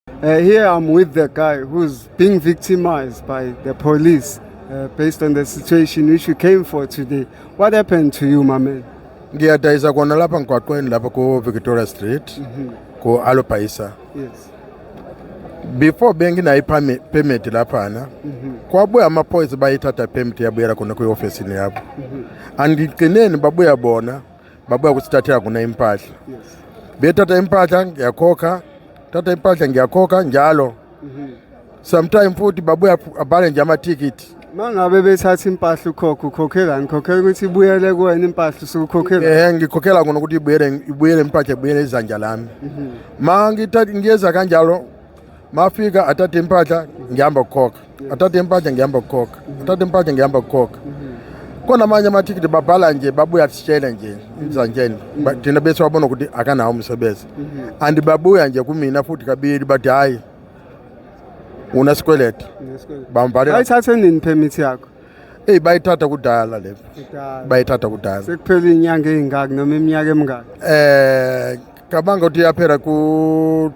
Uh, here I'm with the guy who's being victimized by the police uh, based on the situation which we came for today. What happened to you, my man? Ngiyadayisa kona lapha ngigwaqweni lapha ku Victoria Street mm -hmm. ku Alopaisa. Yes. Before benginayo permit laphana mm -hmm. kwabuya amaphoyisa bayithatha permit yabuyela kona kwi-ofisini yabo mm -hmm. andigcineni babuya bona babuya kusithathela khona impahla bethatha impahla ngiyakhokha thatha impahla ngiyakhokha njalo mhm. sometime futhi babuya abhale nje amathikithi mangabe bethatha impahla ukhokha ukhokhelani khokhela ukuthi ibuyele kuwena impahla usukhokhela eh ngikhokhela kona ukuthi ibuyele ibuyele impahla ibuyele izanja lami mhm. ma ngithatha ngiyeza kanjalo mafika athathe impahla ngihamba kukhokha athathe impahla ngihamba kukhokha athathe impahla ngihamba kukhokha khona amanye amathikithi babhala nje babuya sitshele nje mzantsheni thina bese wabona ukuthi akanawo umsebenzi and babuya nje kumina futhi kabili bathi hhayi unesikweletu bamvalela ayithathe nini permit yakho eyi bayithatha kudala le bayithatha kudala sekuphele iy'nyanga ey'ngaki noma iminyaka emingaki um cabanga ukuthi yaphela ku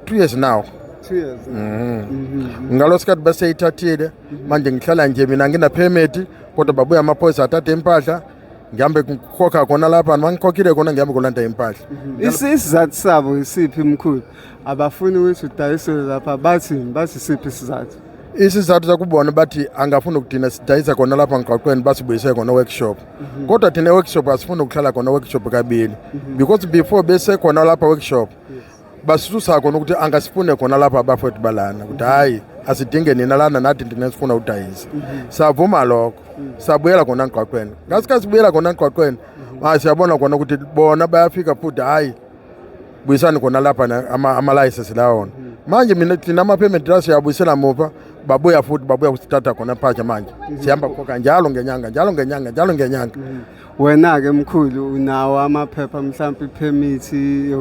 two years now two years mm. mm-hmm. ngalo sikhathi baseyithathile mm-hmm. manje ngihlala nje mina nginaphemeti kodwa babuya amaphoyisa athathe impahla ngihambe ngikhokha khona lapha mangikhokhile khona ngihambe kolanda impahla mm-hmm. isizathu sabo isiphi mkhulu abafuni ukuthi udayisele lapha bathi bathi siphi isizathu isizathu sakubona bathi angafuni ukudina sidayisa khona lapha ngigqaqweni basibuyise khona workshop Mhm. kodwa thina workshop asifuni ukuhlala khona workshop kabili mhm. because before besekhona lapha workshop basusa khona ukuthi angasifune khona lapha abafowethu balana ukuthi hhayi asidinge nina lana nathi ndina sifuna udayisa mhm. savuma lokho sabuyela khona ngqwaqweni ngasikhathi sibuyela khona ngqwaqweni siyabona khona ukuthi bona bayafika futhi hhayi buyisani khona lapha ama-license lawa wona manje mina thina ama-payment la siyabuyisela muva babuya futhi babuya kusithatha khona phaja manje sihamba khokha njalo ngenyanga njalo ngenyanga njalo ngenyanga wena-ke mkhulu unawo amaphepha mhlawumpe iphemithi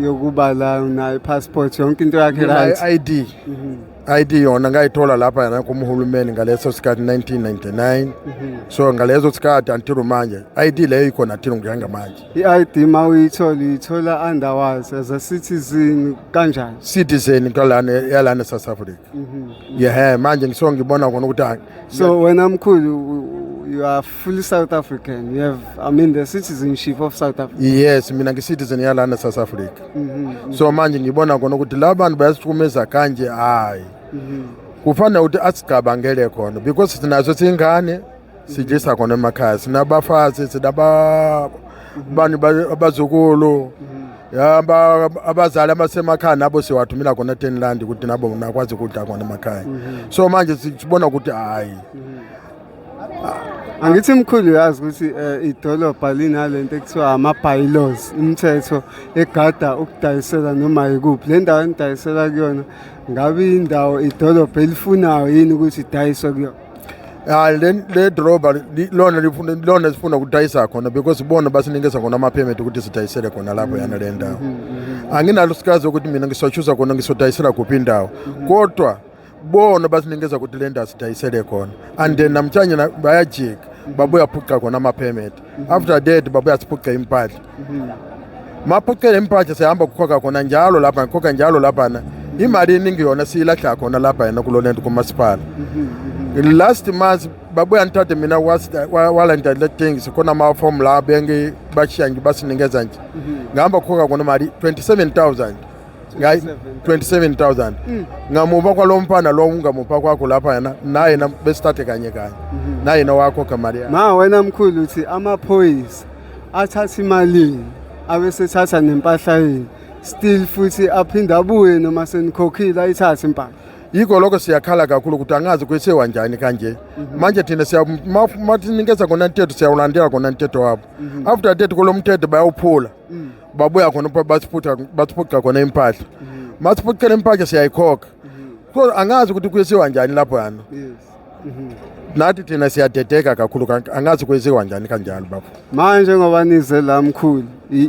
yokuba la unayo i-passport yonke into yakhe right i-id mhm. ID yona ngayithola lapha yana kumhulumeni ngaleso sikhathi 1999 mm -hmm. so ngalezo sikhathi until manje ID leyo ikhona thina ngihanga manje i-ID ma uyithola uyithola underwise as a citizen kanjani citizen kalana yalana South Africa mm -hmm. yeah manje ngisongibona kona ukuthi so wena mkhulu you are fully South African. We have, I mean, the citizenship of South Africa. Yes, mina ngi-citizen yalana South Africa. Mm -hmm. So manje ngibona kona ukuthi la bantu bayasihlukumeza kanje hayi. Mm -hmm. Kufanele ukuthi asigabangele khona because sinazo singane sijisa khona emakhaya sinabafazi sinaba mhm. bani abazukulu mhm. ya abazali abasemakhaya nabo siwathumela khona tenland ukuthi nabo nakwazi ukudla khona emakhaya mhm. so manje sibona ukuthi hayi angithi mkhulu uyazi ukuthi um idolobha linale nto ekuthiwa ama-bylaws imithetho egada ukudayisela noma yikuphi le ndawo enidayisela kuyona ngabe indawo idolobha elifunayo yini ukuthi idayiswe kuyona hayi le le droba lona lifuna lona sifuna ukudayisa khona because bona basinikeza khona ama-permit ukuthi sidayisele khona lapho mm-hmm. yana le ndawo mm-hmm. anginalo sikazi ukuthi mina ngisochuza khona ngisodayisela kuphi indawo mm-hmm. kodwa bona basinikeza ukuthi le ndawo sidayisele khona and then namhlanje bayajika babuya phuca khona ama-permit after that babuya siphuce impahla maphucele impahla sihamba kukhokha khona njalo lapha ngikhokha njalo laphana imali eningi yona siyilahla khona lapha yena kulo lento kumasipala last month babuya ngithathe mina walanda le thing sikhona amafomu la bengi bashiya nje basinikeza nje ngihamba kukhokha khona imali 27000 ngayi 27000 mm. ngamupha kwalo mfana lo ungamupha kwakho lapha yena naye na besithathe kanye kanye mhm. naye na wakho kamali yakhe ma wena mkhulu uthi amaphoyisa athatha imalini abesethatha nempahla yini still futhi aphinde abuye noma senikhokhile ayithathe impahla yikho lokho siyakhala kakhulu ukuthi angazi kwesewa njani kanje mhm. manje thina siyamathinikeza kona mthetho siyawulandela kona mthetho wabo mhm. after that kulo mthetho bayawuphula mm. babuya khona bathiphuca bathiphuca khona impahla mm. mathiphucela impahla siyayikhokha mm. so angazi ukuthi kuyisiwa njani lapho yana mm-hmm. nathi thina siyadedeka kakhulu angazi kuyisiwa njani kanjalo baba manje ngoba nize la mkhulu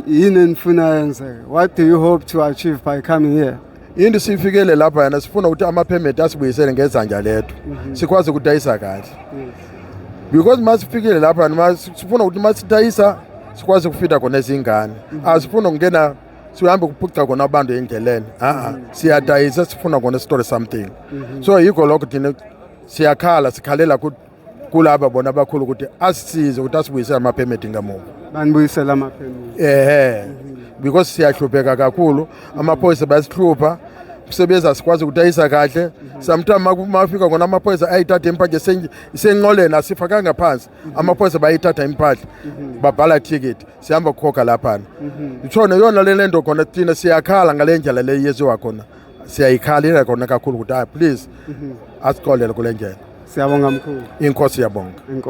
yini enifuna yenzeke what do you hope to achieve by coming here into sifikele lapha yana sifuna ukuthi ama-permit asibuyisele ngezanja lethu mhm. sikwazi ukudayisa kahle because uma sifikile lapha noma sifuna ukuthi uma sidayisa sikwazi ukufida khona izingane mhm. asifuna ukungena sihambe kuphuca khona abantu endleleni a-a mhm. siyadayisa sifuna khona sitole something so yikho lokho thina siyakhala sikhalela kulaba bona abakhulu ukuthi asisize ukuthi asibuyise amaphemedi ngamuva banibuyisela amaphemedi ehe because siyahlupheka kakhulu amaphoyisa bayasihlupha msebenzi asikwazi ukudayisa kahle sometimes mafika kona amaphoyisa ayithatha impahla isenqoleni asifakanga phansi amaphoyisa bayithatha impahla babhala ticket sihamba kukhokha laphana itshona yona le lento khona thina siyakhala ngale ndlela le yeziwa khona siyayikhalela kona kakhulu ukuthi hayi please asicolele kule njena Siyabonga mkhulu. inkosi yabonga Inkosi.